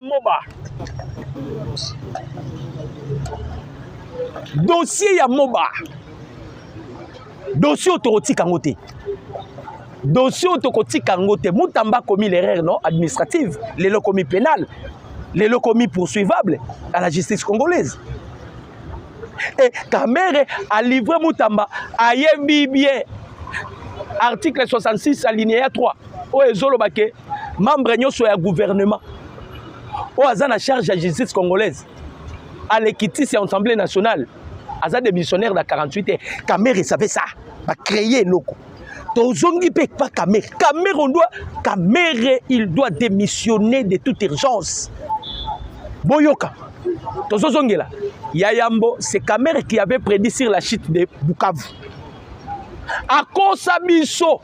moba dossier ya moba dossier oyo tokotika yango te dossier oyo tokotika yango te mutamba akomi l'erreur non administrative lelo akomi pénale lelo akomi poursuivable à la justice congolaise e kamere alivre mutamba ayebi bien article 66 alinéa 3 oyo ezoloba ke membre nyonso ya gouvernement oyo aza na charge ya justice congolaise alekitisi ya assemblée nationale aza démissionnaire na 48 heures kamere savait ça bacreye eloko tozongi mpe pa kamere kamere on doit kamere il doit démissionner de toute urgence boyoka tozozongela ya yambo c'est kamere qui avait prédit sur la chute de bukavu akosa biso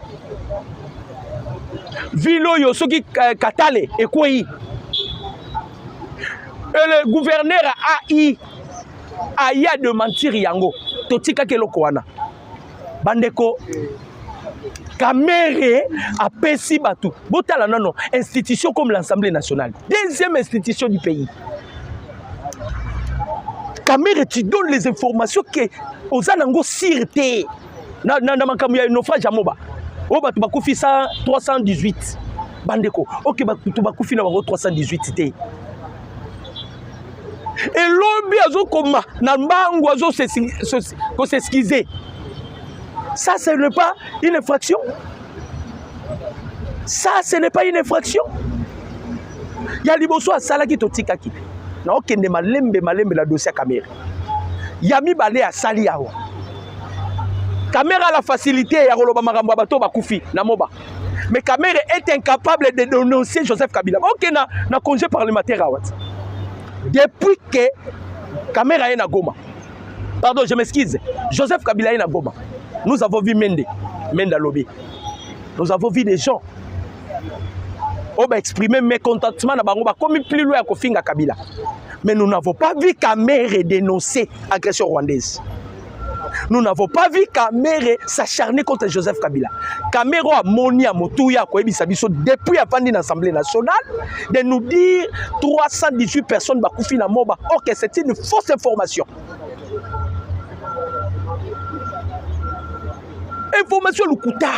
ville oyo soki eh, katale ekwei et le gouverneur ai aya de mentir yango totikaki eloko wana bandeko kamere apesi bato botala nono institution comme l'assemblée nationale deuxième institution du pays Kamere, tu donnes les informations que oza nango sire te na, na, na makambo ya naufrage ya moba oyo bato bakufi 318 bandeko oke bato bakufi na bango 318 te elobi azokoma na mbangu azokoseskize ça ce n'est pas une infraction ça ce n'est pas une infraction ya liboso asalaki totikaki na okende malembe malembe na dossier ya kamere ya mibale asali awa kamere a la facilité ya koloba makambo ya bato bakufi na moba mais kamere est incapable de dénoncer joseph kabila okende na, na congé parlementaire awa depuis que kamere aye na goma pardon je m'excuse joseph kabila aye na goma nous avons vu mende mende alobi nous avons vu des gens oyo ba exprime mécontentement na bango bakomi plus loin ya kofinga kabila mais nous n'avons pas vu kamere dénoncer agression rwandaise nous n'avons pas vu kamere s'acharner contre joseph kabila kamere oyo amoni ya motuya akoyebisa biso depuis avandi na assemblée nationale de nous dire 318 personnes bakufi na moba ok c'est une fausse information information lokuta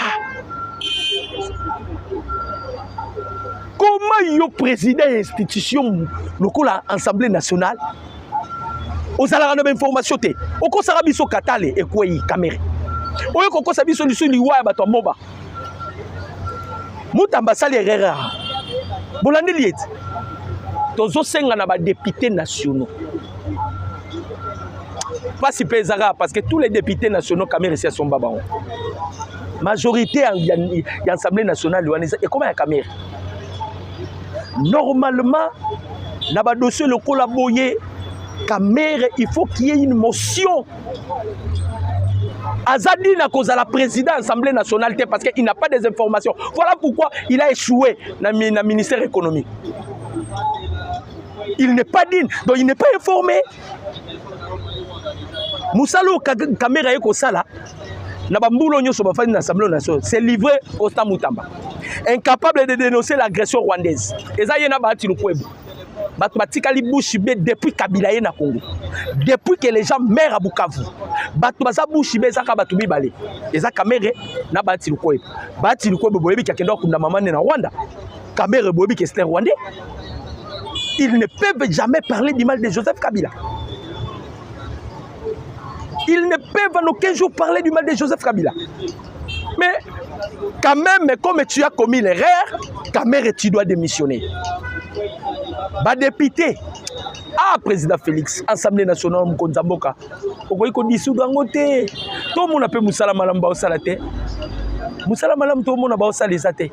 koma yo président ya institution lokola assemblée nationale ozalaka na bainformation te okosaka biso katale ekwei kamere oyo kokosa biso lisu liwa ya bato ya moba mutamba asali erreur bolandeli ete tozosenga na badepute nationaux mpasi mpe ezaka parce que tous les députés nationaux kamere esi asomba bango majorité ya, ya, ya assemblée nationale wana ekoma ya kamere normalement na badossier lokola boye kamere il faut qu'il y ait une motion Azadi n'a cause à la présidente Assemblée nationale parce qu'il n'a pas des informations. Voilà pourquoi il a échoué dans le ministère économique. Il n'est pas digne, donc il n'est pas informé. mosala oyo kamera ye kosala na bambulo nyonso bafandi na assemblée nationale c'est livré constant mutamba incapable de dénoncer l'agression rwandaise eza ye na baati lukwebo bato batikali bushi be depuis kabila ye na congo depuis que les gens maire ya bukavu bato baza bushi be ezaka bato mibale eza kamere na baati lukwebo baati lukwebo boyebi kakendaka kunda mama nde na rwanda Kamere boyebi que c'est un Rwandais. Ils ne peuvent jamais parler du mal de Joseph Kabila. Ils ne peuvent en aucun jour parler du mal de Joseph Kabila. Mais quand même, comme tu as commis l'erreur, Kamere, tu dois démissionner. Bah, député, ah président félix assemblée nationale mokonzi ya mboka okoki kodisudu yango te tomona mpe mosala malamu baosala te mosala malamu tomona baosala eza te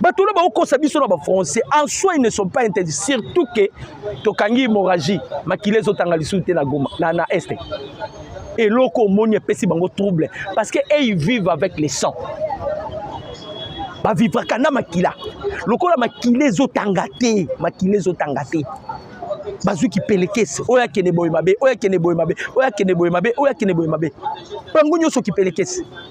bato wana bakokosa biso na bafrançais en soi ils ne sont pas interdits surtout ke tokangi hémorragie makila ezotanga lisusu te na goma na, na este eloko omoni epesi bango trouble parce que ey vive avec les sang bavivraka na makila lokola makila ezotanga te makila ezotanga te bazwi kipelekese oyo akende boye mabe oyo akende boye mabe oyo akende boye mabe oyo akende boye mabe bango nyonso kipelekese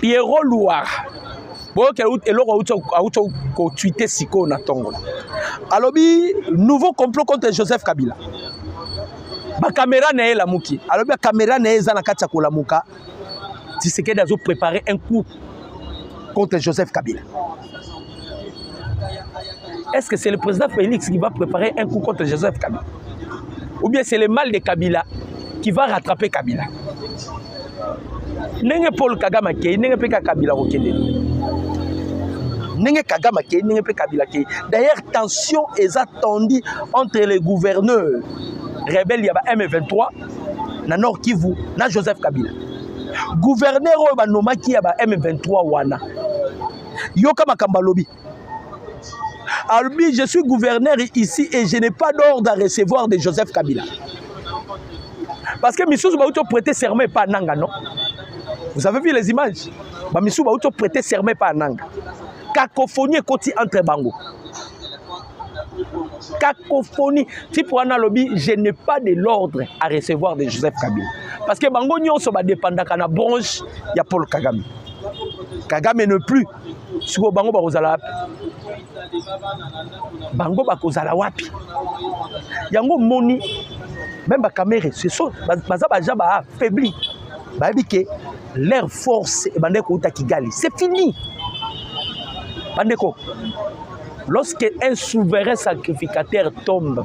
pierrot luwara boyoki eloko awuti kotuite sikoyo na ntongo alobi nouveau complot contre joseph kabila bakamera na ye elamuki alobi bakamera na ye eza na kati ya kolamuka tisekedi azoprepare un coup contre joseph kabila Est-ce que c'est le président Félix qui va préparer un coup contre Joseph Kabila Ou bien c'est le mal de Kabila qui va rattraper Kabila ndenge paul kagame akei ndenge mpe kaka kabila kokende ndenge kagame akei ndenge mpe kabila akei d'ailleurs tension eza tendue entre les gouverneurs rebelle ya ba m23 na nord kivu na joseph kabila gouverneur oyo banomaki ya ba m23 wana yoka makambo alobi alobi je suis gouverneur ici et je n'ai pas d'ordre à recevoir de joseph kabila parce que misusu bauti oprete serment epa ananga non vous avez vu les images bamisusu bauti oprete serment epa ananga cacophonie ekoti entre bango cacophonie type wana alobi je n'ai pas de l'ordre à recevoir de joseph kabila parce que bango nyonso badepandaka na branche ya paul kagame kagame ne plus sikoyo bango bakozala wapi bango bakozala wapi yango moni meme bakamere seso baza baja baaffaibli bayebi ke leur force ebandaki kouta kigali c'est fini bandeko lorsque un souverain sacrificateur tombe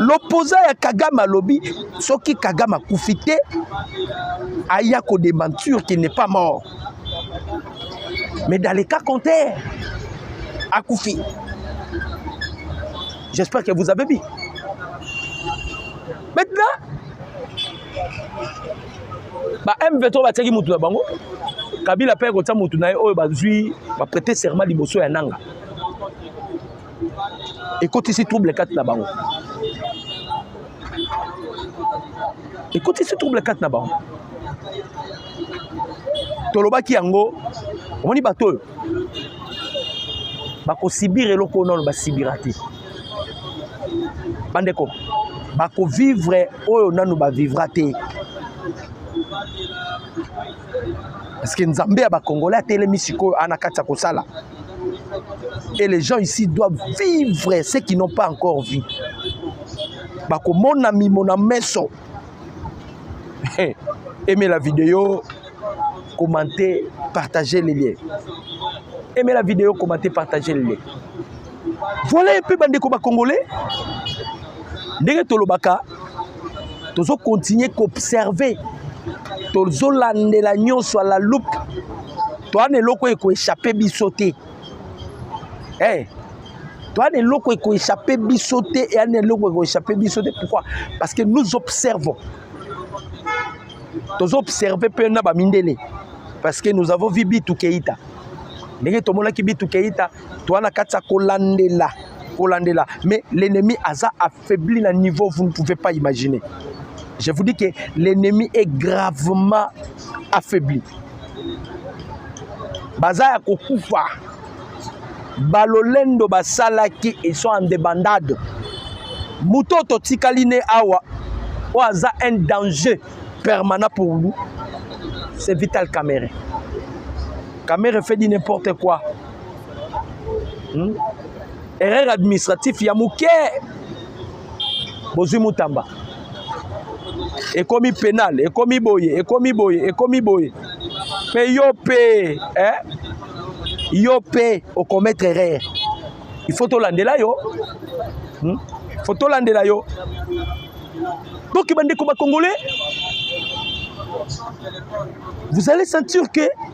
lopoza ya kagame alobi soki kagame akufi te aya kodementure qu'il n'est pas mort mais dans le cas contraire akufi j'espère que vous avez vu maintenant ba m23 batiaki motu na bango kabila mpe akotia motu na ye oyo bazwi baprete serment liboso ya nanga ekotisi trouble kati na bango ekotisi trouble kati na bango tolobaki yango omoni bato oyo bakosibire eloko oyo nano basibira te bandeko bakovivre oyo nano bavivra te Parce que Nzambe ya ba Congolais atelemi sikoyo ana kati ya kosala. Et les gens ici doivent vivre ceux qui n'ont pas encore vu. Bakomona mimo na meso. Aimez la vidéo, commentez, partagez les liens. Aimez la vidéo, commentez, partagez les liens. Voilà un peu bandeko ba congolais ndenge tolobaka tozo continuer qu'observer tozolandela nyonso la loupe toana eloko ekoechappe biso te hey, eh, toana eloko ekoechappe biso te eana eloko ekoechappe biso te pourquoi parce que nous observons tozo observe mpe na bamindele parce que nous avons vu bitu keita ndenge tomonaki bitu keita toa na kati ya kolandela kolandela mais l'ennemi aza affaibli na niveau vous ne pouvez pas imaginer je vous dis que l'ennemi est gravement affaibli baza ya kokufa balolendo basalaki ils sont en débandade moto oyo totikali ne awa oyo aza un danger permanent pour nous c'est vital camere camere fait dit n'importe quoi hmm? erreur administratif ya moke bozwi mutamba ekomi penal ekomi boye ekomi boye ekomi boye mpe yo mpe eh? yo mpe okometre erreur il faut tolandela yo hmm? faut tolandela yo donc bandeko bakongole vous allez sentir que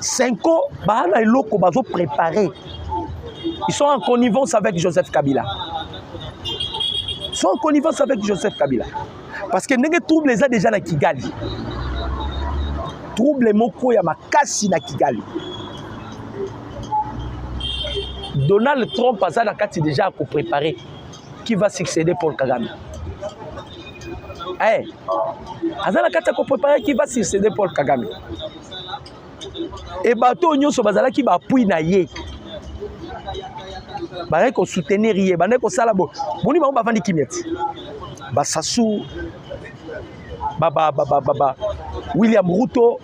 Senko baa na eloko bazo préparer ils sont en connivence avec Joseph Kabila ils sont en connivence avec Joseph Kabila parce que ndenge trouble eza déjà na Kigali trouble moko ya makasi na Kigali Donald Trump aza na kati déjà ako préparer qui va succéder Paul Kagame eh, aza na kati ya koprepare qui va succéder Paul Kagame e bato oyo nyonso bazalaki bapui na ye bazalaki kosoutenir ye bandaki kosala bo boni bango bavandi kimia ti basasu ba, ba, ba, ba, ba, ba, william ruto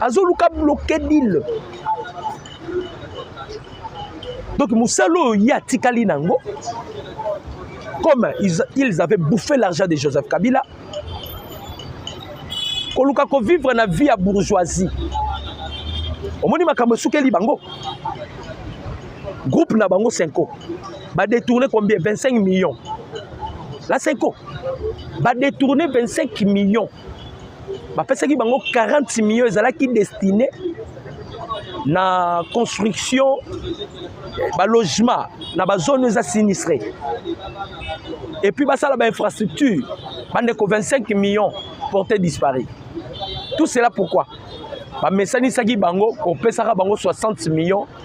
azoluka bloke dile donc mosala oyo ye atikali na yango comme ils avaient bouffé l'argent de joseph kabila koluka kovivre na vie ya bourgeoisie omoni makambo esukeli bango groupe na bango senko ba détourner combien 25 millions la seko ba détourner 25 millions bapesaki bango 40 millions ezalaki destiné na construction balogement na bazone oyo eza sinistre epuis basala bainfrastructure bandeko 25 millions porte disparu tout cela pourquoi bamesanisaki bango kopesaka bango 60 millions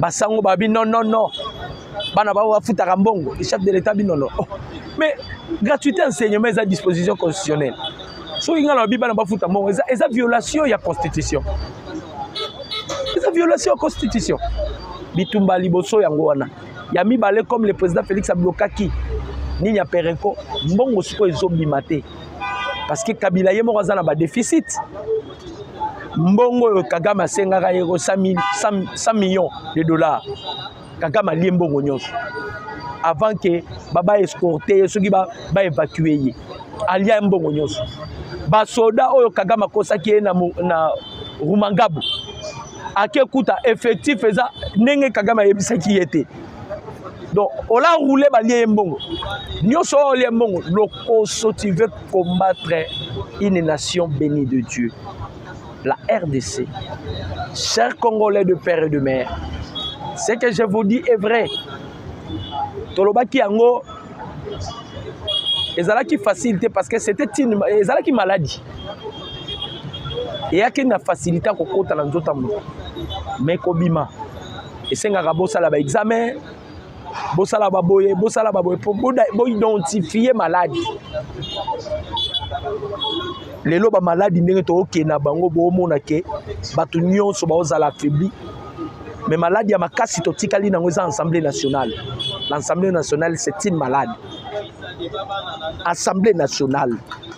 basango babi non non non bana bango bafutaka mbongo le chef de l'état bino non oh. mais gratuité enseignement eza disposition constitutionnelle soki ngai nalobi bana bafuta mbongo eza, eza violation ya constitution eza violation ya constitution bitumba liboso yango wana ya mibale comme le président félix ablokaki nini ya perenco mbongo sikoyo ezobima te parce que kabila ye moko aza na badeficit mbongo oyo kagame asengaka ye ko 100 millions de dollars kagame alie mbongo nyonso avant ke baba escorte ye soki baevacue ba ye alia mbongo nyonso basoda oyo kagame akosaki ye na, na rumangabu ake kuta effectif eza ndenge kagame ayebisaki ye te donc ola roule balie ye mbongo nyonso oyo olie mbongo lokoso tu veux combattre une nation bénie de dieu la rdc chers congolais de père et de mère ce que je vous dis est vrai tolobaki yango ezalaki facile te parce que c'était une ezalaki maladie eyaki na facilité ya kokota na nzoto ya moto mais kobima esengaka bosala ba examen bosala baboye bosala baboye mpo boidentifie maladi lelo bamaladi ndenge tookende na bango boomona ke bato nyonso baozala affaibli mais maladi ya makasi totikali nango eza assemblée nationale l'assemblée nationale c'est une malade assemblée nationale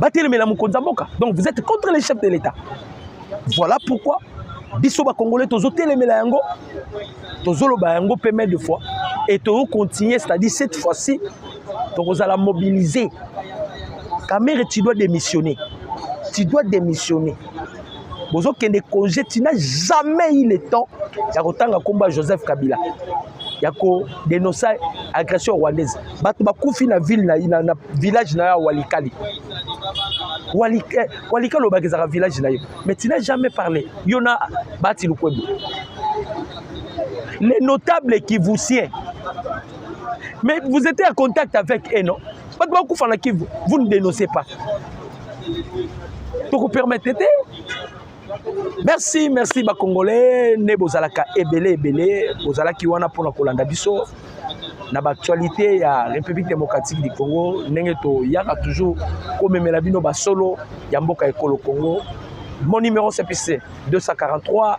batelemela mokonzi ya mboka donc vous êtes contre les chefs de l'état voilà pourquoi biso bakongolais tozotelemela yango tozoloba yango mpe mai de fois et tozocontinue c'est-à-dire cette fois-ci tokozala mobilise kamere tu dois démissionner tu dois démissionner bozokende congé tina jamais il est temps ya kotanga nkombo ya joseph kabila ya kodenonce agression rwandaise bato bakufi na ville na, na, na village na yo ya walikali walikali eh, walika olobaka ezalaka village na yo mais tina jamais parle yo na bati lukwebo les notables kivusiens mais vous étiez en contact avec eux non bato bakufa na kivu vous ne dénoncez pas tokopermettre te merci merci bacongolais nde bozalaka ebele ebele bozalaki wana mpona kolanda biso na baactualité ya république démocratique du congo ndenge toyaka toujours komemela bino basolo ya mboka ekolo congo mon numéro cpc 243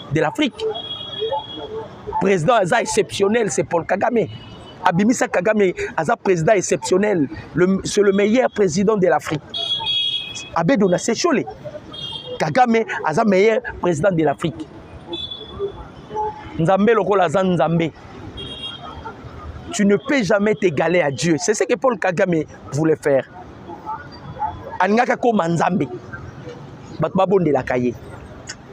de l'afrique président aza exceptionnel c'est paul kagame abimisa kagame aza président exceptionnel c'est le meilleur président de l'afrique abedo na sechole kagame aza meilleur président de l'afrique nzambe lokola aza nzambe tu ne peux jamais t'égaler à dieu c'est ce que paul kagame voulait faire alingaki akoma nzambe bato babondelaka ye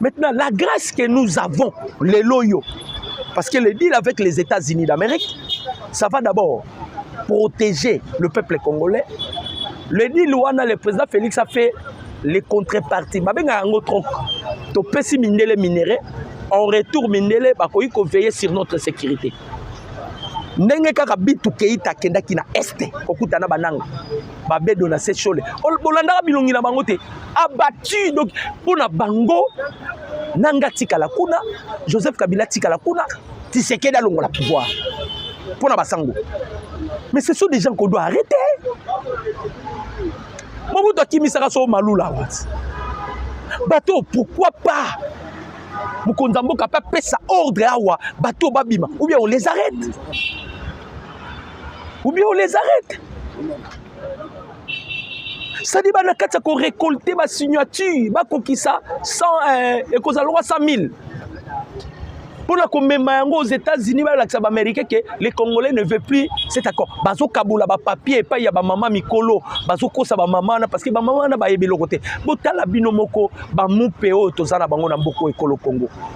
Maintenant, la grâce que nous avons, les loyaux, parce que le deal avec les États-Unis d'Amérique, ça va d'abord protéger le peuple congolais. Le deal wana, le président Félix a fait les contreparties. Mabenga yango troc. Topesi mindele minerais, en retour mindele bakoki ko veiller sur notre sécurité. ndenge kaka bitu keita akendaki na este kokuta na bananga babedo na sechole bolandaka bilongi na bango te abati donc mpo na bango nanga tikala kuna joseph kabila tikala kuna tisekedi alongola pouvoir mpo na basango mais ce sont des gens qu'on doit arrêter mobutu akimisaka so malula wati bato pourquoi pas mokonzi ya mboka mpe apesa ordre awa bato babima ou bien on les arrête ou bien on les arrête sadi ba na kati ya korekolte basignature bakokisa euh, ekozala lwa 100 000 mpo na komema yango aux états-unis balakisa baaméricain ke les congolais ne veut plus cet accord bazokabola bapapier epai ya bamama mikolo bazokosa bamama wana parce que bamama wana bayebi eloko te botala bino moko bamupe oyo toza na bango na mboka oyo ekolo congo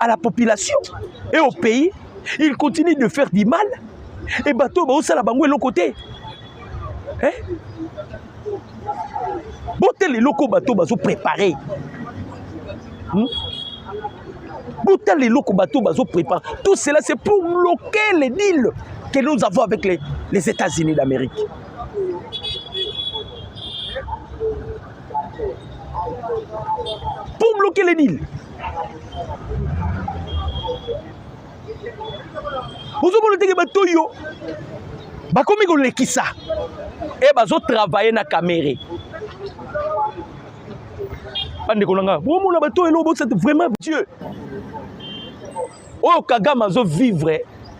à la population et au pays il continue de faire du mal et bato oyo baosala bango eloko te eh? botala eloko bato bazo prépare hmm? botala eloko bato bazo prépare tout cela c'est pour bloquer les deals que nous avons avec les, les états-unis d'amérique Pour bloquer les deals. ozomona ndenge bato oyo bakomi kolekisa e eh, bazotravaille na kamere bandeko na ngai bomona bato oyo elobosate vraiment dieu oyo kagame azovivre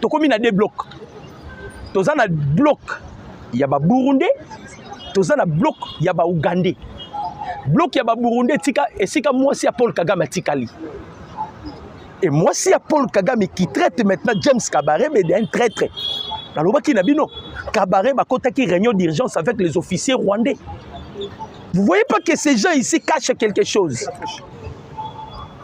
tokomi na deux blocs toza na bloc ya ba burundais toza na bloc ya ba ougandais bloc ya ba burundais tika esika mwasi ya paul kagame atikali et mwasi ya paul kagame qui traite maintenant james kabarebe de un traitre nalobaki na bino kabarebe akotaki réunion d'urgence avec les officiers rwandais vous voyez pas que ces gens ici cachent quelque chose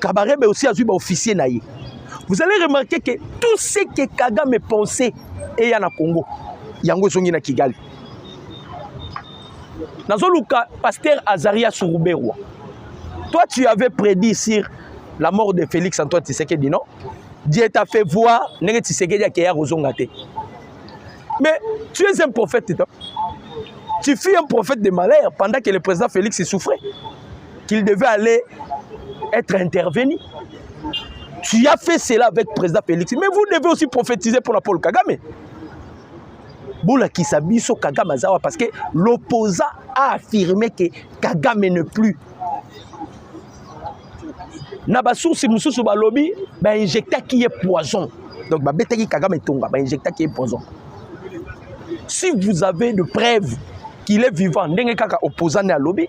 Kabarebe aussi azui ba officier na ye. Vous allez remarquer que tout ce que Kagame pensait eya na Congo. Yango ezongi na Kigali. Nazoluka pasteur Azaria Suruberwa. Toi tu avais prédit sur la mort de Félix Antoine Tshisekedi non? Dieu t'a fait voir ndenge Tshisekedi akeya kozonga te. Mais tu es un prophète. Toi. Tu fus un prophète de malheur pendant que le président Félix souffrait. qu'il devait aller être intervenu. Tu as fait cela avec le président Félix. Mais vous devez aussi prophétiser pour la Paul Kagame. bolakisa biso kagame aza wa parce que l'opposant a affirmé que kagame ne plus na basoursi mosusu balobi bainjectaki ye poison donc babetaki kagame etonga bainjectaki ye poison si vous avez de preuve qu'il est vivant ndenge kaka opposant ne alobi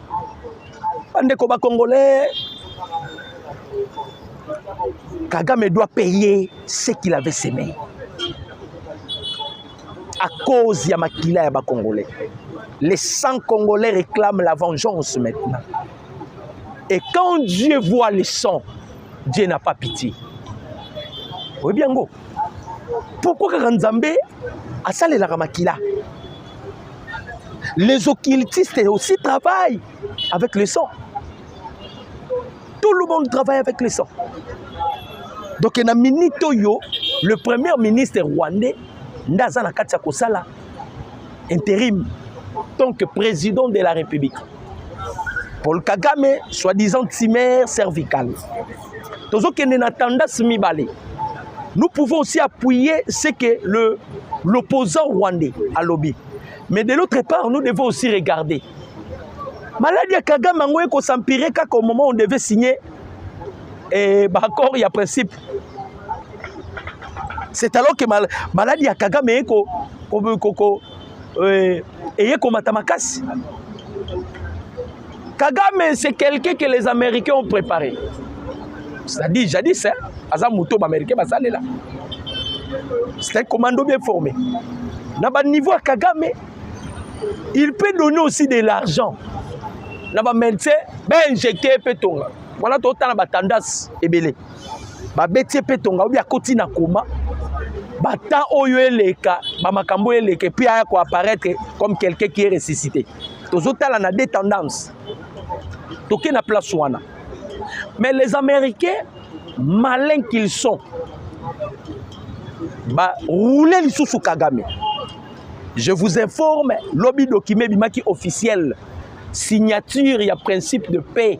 bandeko ba congolais kagame doit payer ce qu'il avait semé à cause ya makila ya ba congolais les 100 congolais réclament la vengeance maintenant et quand dieu voit les 100 dieu n'a pas pitié oyebi yango pourkoi kaka nzambe asalelaka makila les occultistes aussi travaillent avec le sang tout le monde travaille avec le sang donc na minute oyo le premier ministre rwandais nde aza na kati ya kosala intérim tant que président de la république Paul Kagame, soi-disant timère cervicale. tozokende na tendance mibale nous pouvons aussi appuyer ce que le l'opposant rwandais alobi mais de l'autre part nous devons aussi regarder maladi ya kagame yango ekosampire kaka au moment on devait signer eh, baaccord ya principe c'est alors que mal, maladi ya kagame eko ko, ko, ko, euh, eye komata makasi kagame c'est quelqu'un que les américains ont préparé c'est-à-dire jadis hein, aza moto baaméricain basalela c'est un commando bien formé na baniveau ya kagame il peut donner aussi de l'argent na bamédecin bainjecte mpe tonga wana totala batandance ebele babeti ye mpe tonga obi akoti na koma batemp oyo eleka bamakambo oyo eleka epuis aya koapparaître comme quelqu'un qui est ressuscité tozotala na de tendance toke na place wana mais les américains malin qu'ils sont baroule lisusu kagame je vous informe lobi document ebimaki officiel signature ya principe de paix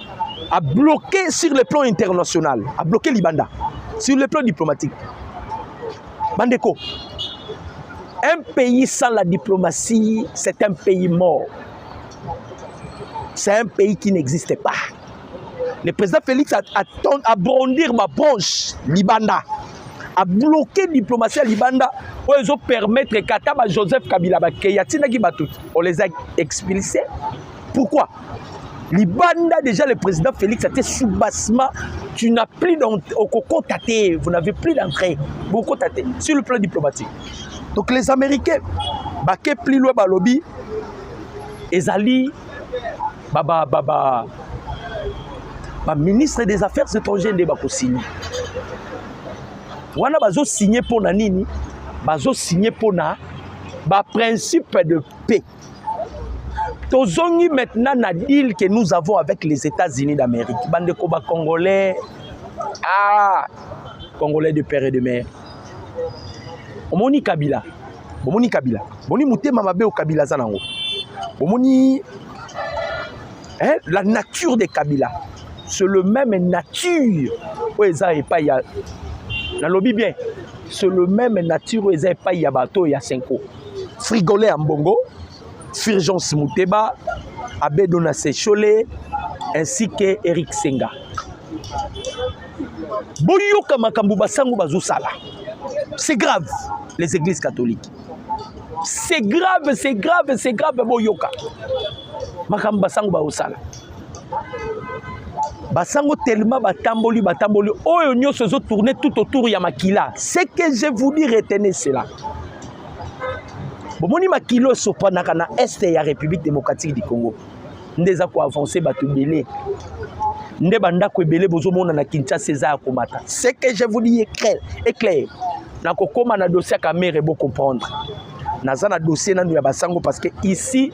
a bloqué sur le plan international a bloqué libanda sur le plan diplomatique bandeko un pays sans la diplomatie c'est un pays mort c'est un pays qui n'existe pas le président félix a, a, a brondir ma branche libanda a bloqué diplomatie ya libanda oyo ezopermettre kata ba joseph kabila bakeya atindaki bato on les a expulsés Pourquoi libanda déjà le président Félix atie soubassement tu n'as plus okokota te vous n'avez plus d'entrée bokota te sur le plan diplomatique donc les américains bake plus loin balobi ezali baba baba ba ministre des affaires étrangères nde bakosigne wana bazosigne mpo na nini bazosigne mpo na baprincipe de paix tozongi maintenant na deal que nous avons avec les états-unis d'amérique bandeko bacongolais ah congolais de père et de mère omoni kabila bomoni kabila bomoni motema mabe oyo kabila aza nango bomoni eh, la nature de kabila c'est le même nature oyo eza epai ya nalobi bien c'est le même nature oyo eza epai ya bato ya senko frigole ya mbongo firgence muteba abedo na sechole ainsi que eric senga boyoka makambo basango bazosala c'est grave les églises catholiques c'est grave c'est grave c'est grave boyoka makambo basango baosala basango tellement batamboli batamboli oyo nyonso ezo tourner tout autour ya makila ce que je vous dis retenez cela bomoni makila esopanaka na est ya république démocratique du congo nde eza koavance bato ebele nde bandako ebele bozomona na kinshasa eza ya komata ce que je vous dis éclair nakokóma na dossier ya kamere bocomprendre naza na dossier nanu ya basango parce que ici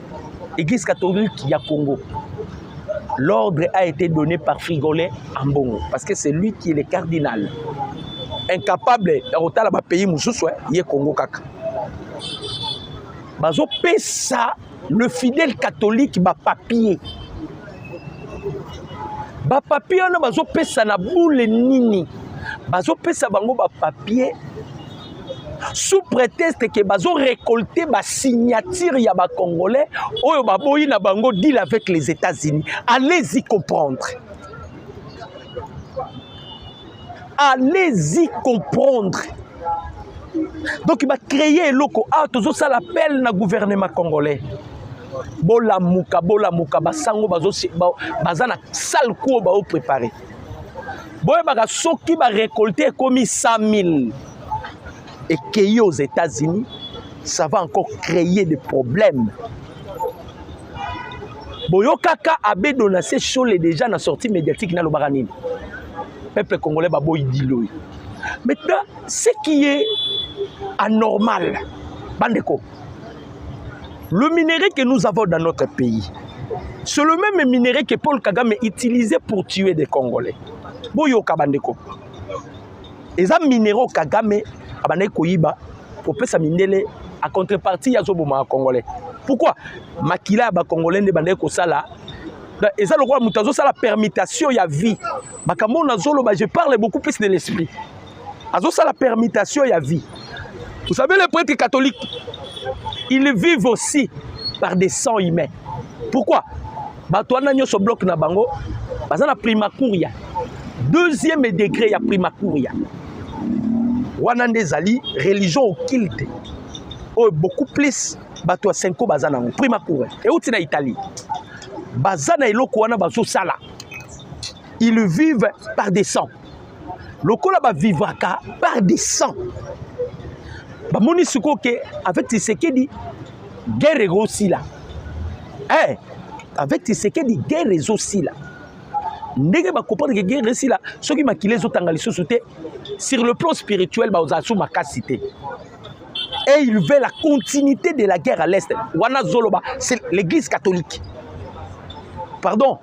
Église catholique ya Congo. L'ordre a été donné par Frigolais Ambongo parce que c'est lui qui est le cardinal. Incapable ya kotala ba pays mosusu eh, ye Congo kaka. Bazopesa le fidèle catholique ba papier bapapie wana bazopesa na bule nini bazopesa bango bapapie sous prétexte que bazo récolter ba signature ya ba congolais oyo baboyi na bango deal avec les États-Unis allez-y comprendre allez-y comprendre donc ba créer eloko ah tozo sala appel na gouvernement congolais bolamuka bolamuka basango baza na sale kuo bao préparer boyebaka soki barecolte ekomi 100 000 ekei aux états-unis ça va encore créer des problèmes boyokaka abe donase shole déjà na sortie médiatique nalobaka nini peuple congolais baboyi diloi maintenant ce qui est anormal bandeko Le minerai que nous avons dans notre pays, c'est le même minerai que Paul Kagame utilisait pour tuer des Congolais. Boyoka bandeko. Eza minéraux Kagame abandaki koyiba kopesa mindele a contrepartie ya zoboma ya Congolais. Pourquoi makila ya ba Congolais nde bandaki kosala eza lokola moto azosala permutation ya vie makambo oyo nazoloba je parle beaucoup plus de l'esprit azosala permutation ya vie vous savez les prêtres catholiques ils vivent aussi par des sangs humains pourquoi bato wana nyonso bloke na bango baza na primacuria deuxième degré ya primacuria wana nde ezali religion occulte oyo beaucoup plus bato ya senko baza nango primacuria euti na italie baza na eloko wana bazosala ils vivent par des sangs lokola ba vivaka par des sang bamoni sikoyo ke avec tisekedi guerre ekosila eh, avec tisekedi guerre ezosila ndenge bakomprendre ke guerre esila soki makila ezotanga lisusu te sur le plan spirituel bakozala su makasi te et il veut la continuité de la guerre à l'est wana zoloba c'est l'église catholique pardon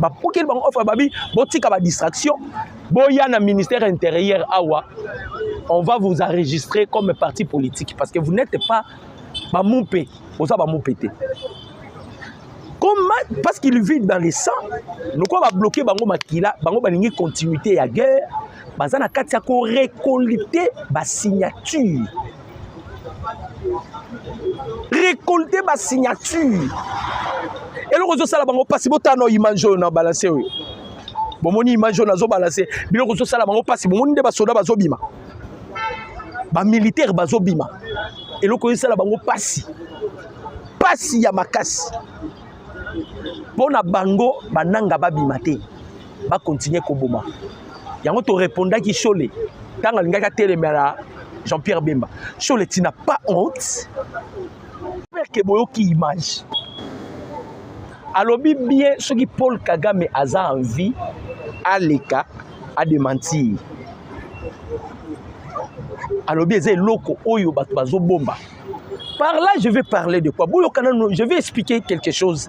bapokeli bango offre babi botika badistraction boya na ministère intérieur awa on va vous enregistrer comme parti politique parce que vous n'êtes pas bamumpe boza bamumpe te comment parce qu'il vit dans le sang lokola babloke bango makila bango balingi continuité ya guerre baza na kati ya korekolite basignature récolter ba signature eloko ezosala bango mpasi botala na image oyo na balanse oyo bomoni image oyo nazobalanse biloko ezosala bango mpasi bomoni nde basoda bazobima bamilitaire bazobima eloko ezosala bango mpasi mpasi ya makasi mpo na bango bananga babima te bakontinue koboma yango torepondaki shole ntango alingaki atelemela jean-pierre bemba shole tina pas honte perke boyoki image alobi bien soki paul kagame aza en vie aleka adementir alobi eza eloko oyo bato bazobomba par là je vais parler de quoi boyokana je vais expliquer quelque chose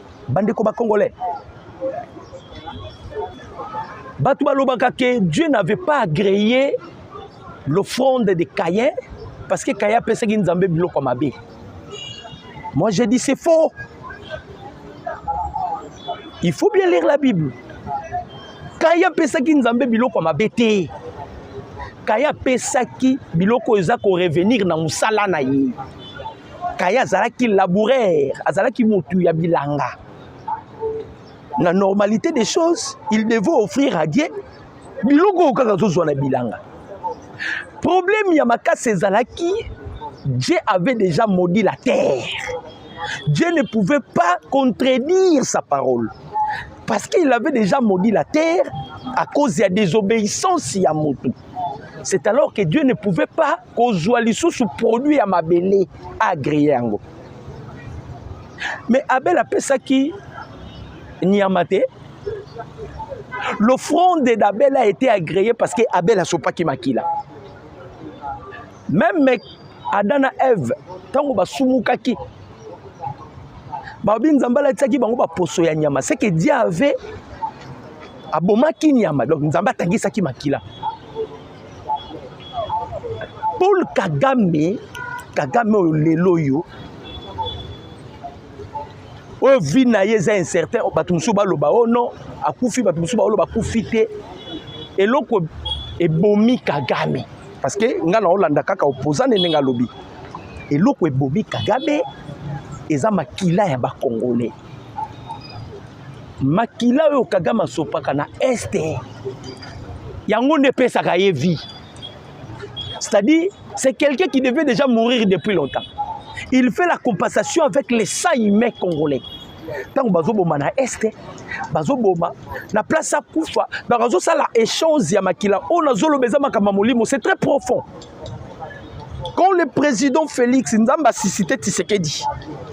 bandeko ba congolais bato balobaka ke dieu n'avait pas agréé l'offrande de cayen parce que cayen apesaki nzambe biloko ya mabe moi j'ai dit c'est faux il faut bien lire la bible kaye apesaki nzambe biloko ya mabe te kaye apesaki biloko eza korevenir na mosala na ye kaye azalaki laboureur azalaki motu ya bilanga na normalité des choses il devait offrir à dieu biloko oyo kaka azozwa na bilanga problème ya makasi ezalaki dieu avait déjà maudit la terre dieu ne pouvait pas contredire sa parole parce qu'il avait déjà maudit la terre à cause ya désobéissance ya motu c'est alors que dieu ne pouvait pas kozwa lisusu produit ya mabele agree yango mais abel apesaki nyama te l'offrande d'abel a été agréée parce que abel asopaki makila meme adam na eve ntango basumukaki babi nzambe alatisaki bango baposo ya nyama seke diave abomaki nyama donc nzambe atangisaki makila paul kagame kagame oyo lelo oyo oyo vie na ye eza incertain bato mosusu baloba o oh non akufi bato mosusu baoloba akufi te eloko ebomi kagame parce que ngai naolanda kaka opposant nde ndenge alobi eloko ebomi kagame eza makila ya bacongolais makila oyo kagame asopaka na este yango nde epesaka ye vie c'est-à-dire c'est quelqu'un qui devait déjà mourir depuis longtemps il fait la compensation avec les sang humain congolais ntango bazoboma na este bazoboma na place akufa donc azosala échange ya makila oyo nazoloba eza makambo ya molimo c'est très profond quand le président félix nzambe asisite tisekedi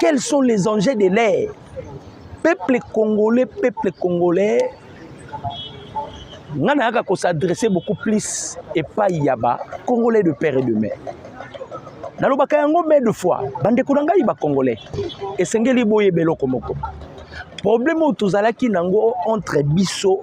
Quels sont les enjeux de l'air Peuple congolais, peuple congolais, nga nayaka kosadresse beaucoup plus epai ya ba congolais de père et de mère nalobaka yango mai de fois bandeko na ngai bacongolais esengeli boyeba eloko moko problème oyo tozalaki nango entre biso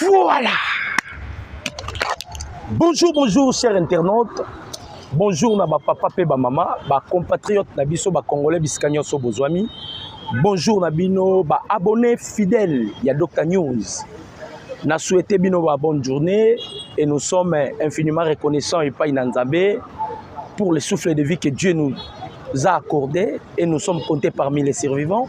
Voilà. Bonjour, bonjour, chers internautes. Bonjour na ba papa pe ba mama, ba compatriotes na biso ba congolais bisika nyonso bozwami. Bonjour na bino ba abonnés fidèles ya Dr News. Na souhaité bino ba bonne journée et nous sommes infiniment reconnaissants et pas Nzambe pour le souffle de vie que Dieu nous a accordé et nous sommes comptés parmi les survivants.